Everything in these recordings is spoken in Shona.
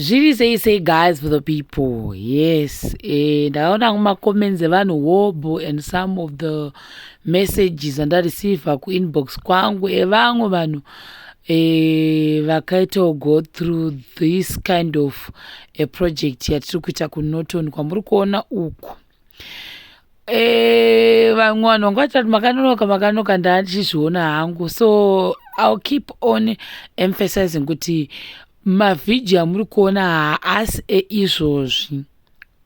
zviri sei sei guys for the people yes eh, ndakaona kumacomments evanhu hobho and some of the messages andareceiva kuinbox kwangu evamwe eh, vanhu eh, vakaitawo go through this kind of a project yatiri kuita kunoton kwamuri kuona uku Eh, vamwe vanhu vanga vachati makanonoka makanonoka ndachizviona hangu so ill keep on emphasizing kuti mavhidhio amuri kuona haasi eizvozvi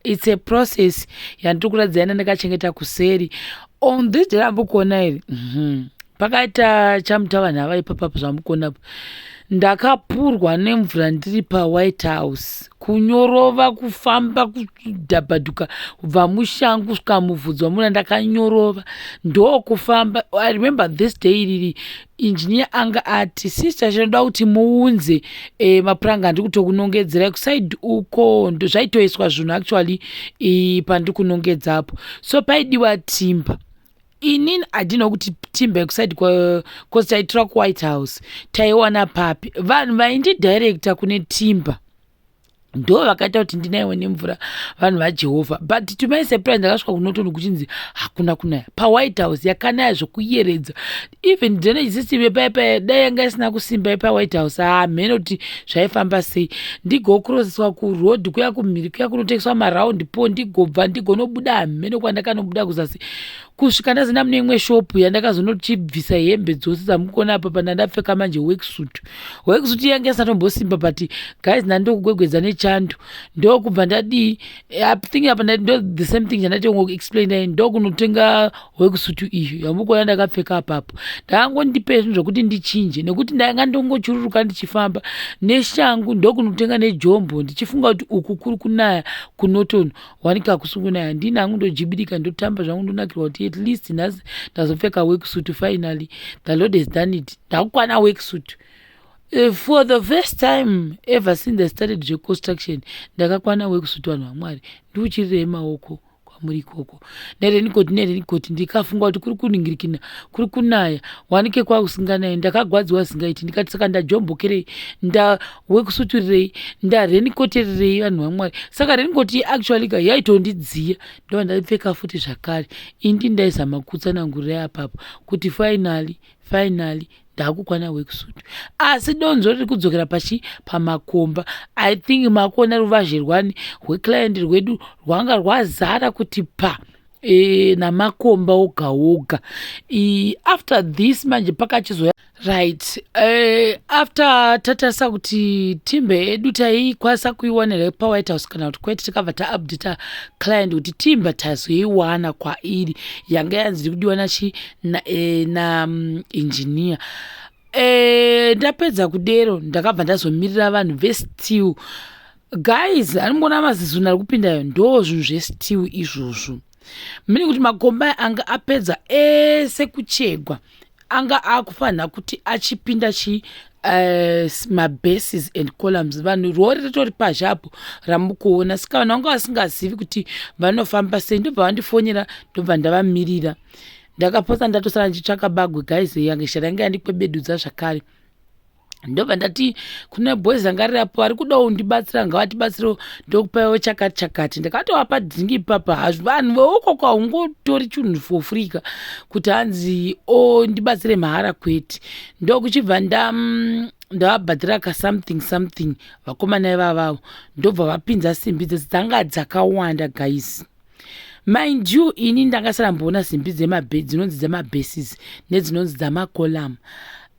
its a process yandiri kuratidza ina ndakachengeta kuseri on this day ramuri kuona iri mhm. pakaita chamuta vanhu avaipapapo zvamuri kuona ndakapurwa nemvura ndiri pawhite house kunyorova kufamba kudhabhaduka kubva mushangu kusvika mubvudzi wamuna ndakanyorova ndokufamba i remember this day iriri engineer anga ati sister chinoda kuti muunze e, mapuranga andiri kutokunongedzera kusaid uko zvaitoiswa zvinhu actually e, pandiri kunongedzapo so paidiwa timba inini i didn't know kuti timber kuside bcause taitura kuwhite house taiwana papi vanhu vaindidirecta kune timber ndo vakaita kuti ndinaiwe nemvura vanhu vajehovha but to my surprise ndakasvika kunotono kuchinzi hakuna kunaya pawhite house yakanaya zvekuyeredza even drenagesistibe paye paye dai yanga isina kusimba yepawhite house hamheno kuti zvaifamba sei ndigokroseswa kuroad kuya kumhiri kuya kunotengeswa maraundi po ndigobva ndigonobuda hamheno kwandakanobuda kuzasi kusvika ndazenda mune imwe shopu yandakazonochibvisa hembe dzose dzamukona apa pana ndapfeka manje worksuit worksuit yange isatombosimba but guys ndandokugwegwedza nechando ndokubva ndadii thing apa ndo the same thing chandatongo explain dai ndokunotenga worksuit iyo yamukona ndakapfeka apapo ndakangondipe zvinhu zvokuti ndichinje nekuti ndanga ndongochururuka ndichifamba neshangu ndokunotenga nejombo ndichifunga kuti uku kuri kunaya kunotono wanika kusunguna handina hangu ndojibidika ndotamba zvangu ndonakirwa kuti at least nhasi ndazopfeka worksuit finally the lord has done it ndakukwana worksuit eh, for the first time ever since i started zveconstruction ndakakwana worksuit vanhu vamwari ndiuchirirei maoko kwamuri ikoko nerenikoti nerenikoti ndikafunga kuti kuri kuningirikina kuri kunaya wanike kwakusinganaye ndakagwadziwa zingaiti ndikati saka ndajombokerei nda wekusuturirei ndarenikotererei vanhu vamwari saka renikoti actually ka yaitondidziya ndova ndaipfeka futi zvakare indi ndaizama kutsanangurirai apapo kuti finally finally ndakukwana wekusutu asi donzo riri kudzokera pachi pamakomba i think makuona ruvazhe rwani rweclient rwedu rwanga rwazara kuti pa e, namakomba oga oga after this manje pakachizoya right uh, after tatarisa kuti timbe yedu taikwanisa kuiwana here pawhite house kana kuti kwete tikabva taupdata client kuti timbe tazoiwana kwairi yanga yanzi kudiwa nachi nainjiniya na, um, eh, ndapedza kudero ndakabva ndazomirira vanhu vestill guys anongoona mazizunhu ari kupindayo ndo zvinhu zvestill izvozvo meaning kuti makomba aya anga apedza ese kuchegwa anga akufanira kuti achipinda chi uh, mabases and columns vanhu rori ritori pazhe apo ramukuona sika vanhu vanga vasingazivi kuti vanofamba sei ndobva vandifonera ndobva ndavamirira ndakapotsa ndatosara ndichitsvaka bagwe guys yange shara yange yandikwebedudza zvakare ndobva ndati kune boys anga rirapo vari kudawo undibatsira ngavatibatsirewo ndokupaiwo chakati chakati ndakatovapa dhingi ipapa hazvo vanhu veukoko haungotori chinhu for free ka kuti hanzi o ndibatsire mahara kwete ndokuchibva nda mm, ndavabhadhira ka something something vakomana ivavavo ndobva vapinza simbi dzese dzanga dzakawanda guys mind you ini ndanga saramboona simbi dzemabhe dzinonzi dzemabases nedzinonzi dzamacolamu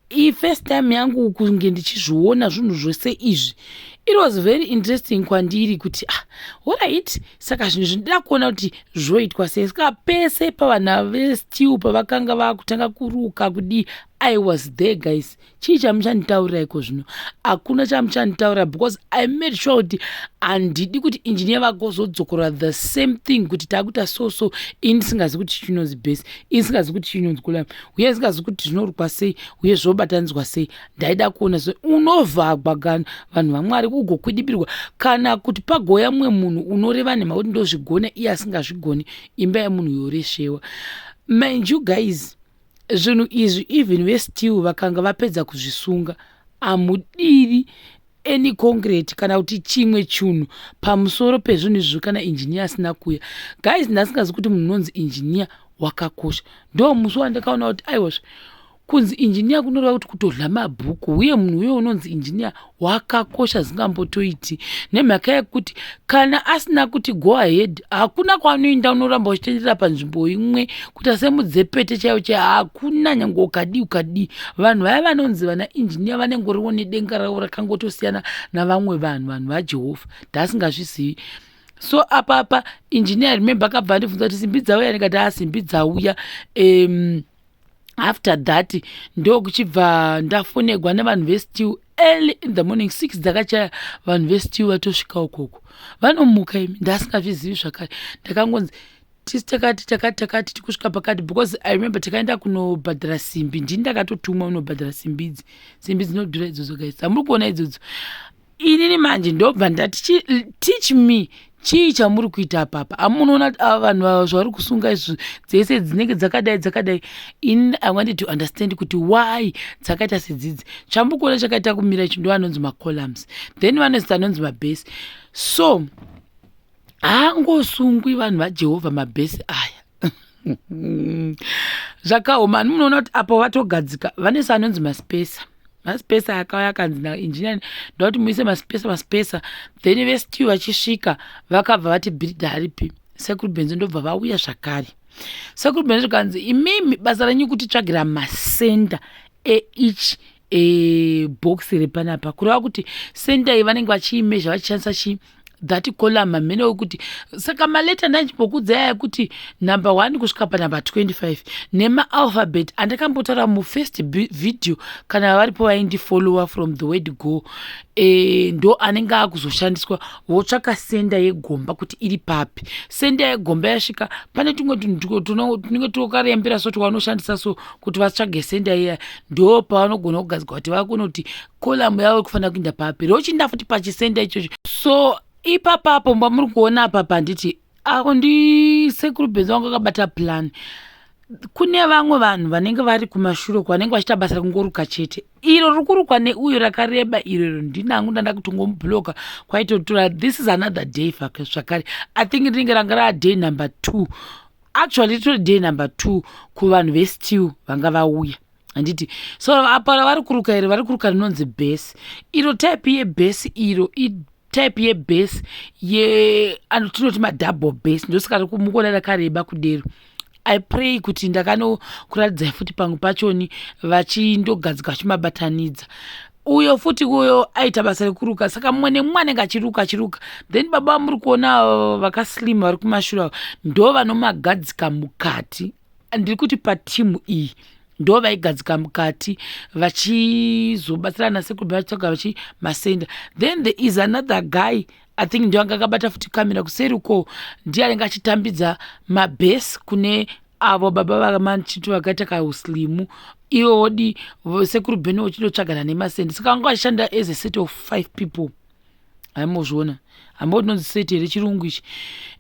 iyi first time yangu kunge ndichizviona zvinhu zvose izvi it was very interesting kwandiri kuti ah orit saka zvinhu zvindida kuona kuti zvoitwa sei ska pese pavana vestill pavakanga vakutanga kuruka kudii i was there guys chii chamuchanditaurira iko zvino hakuna chamuchanditaurira because i made sure kuti handidi kuti injiniya vagozodzokora the same thing kuti takuita so so ini ndisingazi kuti chinonzi base ini ndisingazi kuti chinonzi kulam uye isingazi kuti zvinorukwa sei uye zvobatanidzwa sei ndaida kuona se unovhagwa gani vanhu vamwari kugokwidibirwa kana kuti pagoya mumwe munhu unoreva nhema kuti ndozvigona iye asingazvigoni imba yemunhu yoreshewa mind you guys zvinhu izvi even vestill vakanga vapedza kuzvisunga amudiri any concrete kana kuti chimwe chunhu pamusoro pezvinhu izvizvo kana engineer asina kuya guys ndasingazi kuti munhu unonzi engineer wakakosha ndo musi wandakaona kuti aiwazve kunzi engineer kunoreva kuti kutodla mabhuku uye munhu uye unonzi engineer wakakosha zingambotoiti nemhaka yekuti kana asina kuti go ahead hakuna kwaanoenda unoramba uchitenderera panzvimbo imwe kuita semudzepete chaiyo chaiyo hakuna nyange ukadii ukadii vanhu vaya vanonzi vana injiniya vanengoriwo nedenga ravo rakangotosiyana navamwe vanhu vanhu vajehovha ndaasingazvizivi so apapa injiniya remembe akabva andibvunza kuti simbi dzauya ndikati asimbi dzauya um, after that ndokuchibva ndafonegwa nevanhu vestiw early in the morning six dzakachaya vanhu vestiw vatosvika ukoko vanomuka imi ndaasingazvizivi zvakare ndakangonzi tisi takati takati takati tikusvika pakati because i remember takaenda kunobhadhara simbi ndini ndakatotumwa unobhadhara simbi idzi simbi dzinodhura idzodzo guys hamuri kuona idzodzo inini manje ndobva ndati teach me chii chamuri kuita apapa amunoona ava vanhu vava zvavari kusunga izvo dzese dzinenge dzakadai dzakadai in i wanted to understand kuti why dzakaita sedzidzi chambukuona chakaita kumira ichi ndo anonzi macolumns then vanozita anonzi mabase so haangosungwi vanhu vajehovha mabhesi aya zvakaoma ani munoona kuti apo vatogadzika vane saanonzi maspesa maspesa yakauya akanzi nainjiniya ndakuti muise maspesa maspesa then vestiw vachisvika vakabva vati bhiridha haripi sekuru benzo ndobva vauya zvakare sekuru benzo zvikanzi imimi basa renyu kutitsvagira masenda each e, box repanapa kureva kuti center iyi vanenge vachiimezha vachishandisa chii that column hamene wekuti saka maleta ndandimbokuudza yaya kuti number one kusvika panumber 25 nemaalphabet andakambotaura mufirst video kana varipo vaindifollower from the word go e, ndo anenge akuzoshandiswa votsvaka senda yegomba kuti iri papi senda yegomba yasvika pane tumwe tunenge tunokarembera so twanoshandisa so kuti vatsvage senda iya ndo pavanogona kugadzirwa kuti vakunoti kolamu yavo ikufanira kuinda papi rochinda futi pachisenda ichocho so ipapapo mba muri kuona apapa handiti ako ndi sekuru benzi wangu akabata plan kune vamwe vanhu vanenge vari kumashure uko vanenge vachiita basa rekungoruka chete iro riri kurukwa neuyo rakareba iroro ndinangu ndanda kutongomubloka kwaitotura this is another day zvakare i think rinenge ranga raaday number two actually ritori day number two kuvanhu vestill vanga vauya handiti so apa ravari kuruka iri vari kuruka rinonzi bhesi iro type yebhesi iro type yebhesi ye tinoti madouble bhesi ndosaka mukuona rakareba kudero i pray kuti ndakanokuratidzai futi pamwe pachoni vachindogadzika vachimabatanidza uyo futi uyo aita basa rekuruka saka mumwe nemumwe anenge achiruka achiruka then baba vamuri kuona avo vakaslim vari kumashure avo ndo vanomagadzika mukati ndiri kuti patimu iyi ndo vaigadzika mukati vachizobatsirana sekuru vachitsvaga vachi masenda then there is another guy i think ndiyo anga akabata futi kamera kuseri uko ndiye anenge achitambidza mabhesi kune avo baba vamachiti vakaita kauslimu iwe wodi sekuru bheni uchitotsvagana nemasendi saka vanga vachishanda as a set of five people haimozviona hamba utinonzi set here chirungu ichi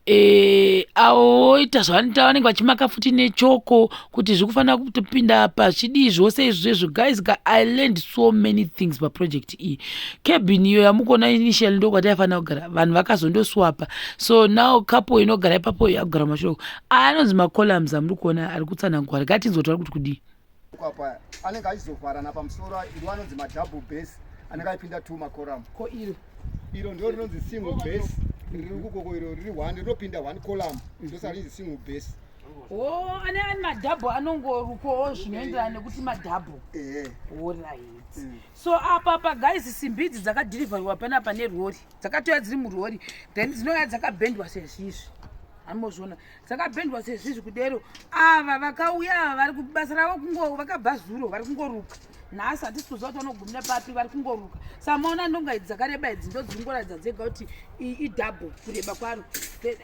Eh, avo voita zvavanoita vanenge vachimaka futi nechoko kuti zviri kufanira kutopinda pazvidii zvose izvi zvezvo guys ka i learned so many things paproject iyi cabin iyo yamukuona initial ndokwati yaifanira kugara vanhu vakazondoswapa so now kapo inogara ipapo yakugara mashoko aya anonzi macolumns amuri kuona ari kutsanangwara katinzwa tauri kuti kudii apa anenge achizovharana pamusoro iri anonzi madouble base anenge aipinda two macoram ko iro iro ndo rinonzi single base riri kukoko iro riri one rinopinda one colam ndosaka rinzi single base Oh, ane ane madhabhu anongorukowo zvinoenderana nekuti madhabhu orit mm. so apa pa guys simbi idzi dzakadhirivhariwa panapa nerori dzakatouya dziri murori then dzinouya dzakabhendwa sezvizvi amozviona dzakapendwa sezvizvi kudero ava vakauya ava vari kubasa ravo kungo vakabva zuro vari kungoruka nhasi hatisi kuziva kuti vanogumira papi vari kungoruka samaona ndonga idzi dzakareba idzi ndodzingoratidza dzega kuti idouble kureba kwaro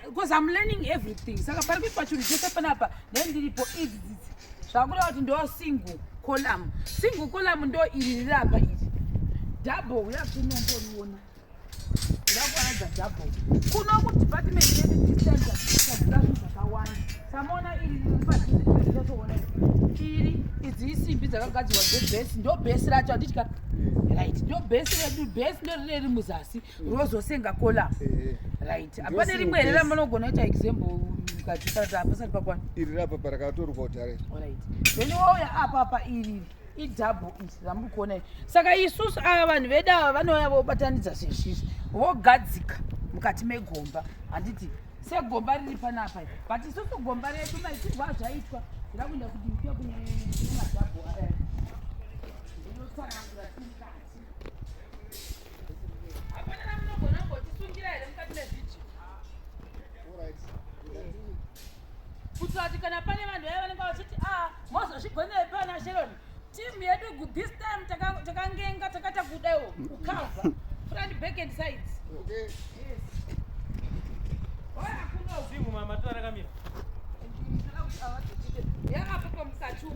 because im learning everything saka pari kuitwa chinhu chese panapa then ndiripo idzi dzidzi zvakureva kuti ndo single column single column ndo iri riri apa iri double uya kunomboriona Ndakuwanza double. Kuno ku department yedu tichaita zvinhu zvakawanda. Samona iri mupadhuze tinotoona iri idzi isimbi dzakagadzirwa dzebhesi ndo bhesi racho anditika right ndo bhesi redu bhesi ndo rine ri muzasi rozosenga kola eh. right hapane rimwe here ramunogona kuita example mukati pasati pakwana iri rapa parakatoruka kutare right then wauya apapa iriri idhabhu izi ramuri kuona izvi saka isusu ava vanhu vedu ava vanouya vobatanidza zvezvizvi vogadzika mukati megomba handiti segomba riri panapa i but isusu gomba redu maitirwo azvaitwa ira kuenda kuti mkuya kunemadhabhu aya ndinotsanangura timukati hapana namunogona ngotisungira here mukati mezviji kuitira kuti kana pane vanhu vaya vanenge vachiti a ah, mozozvigonera pana sheron timu yedu this time takangenga takaita kudaiwo ukava front back and sides yaapo pamusachumi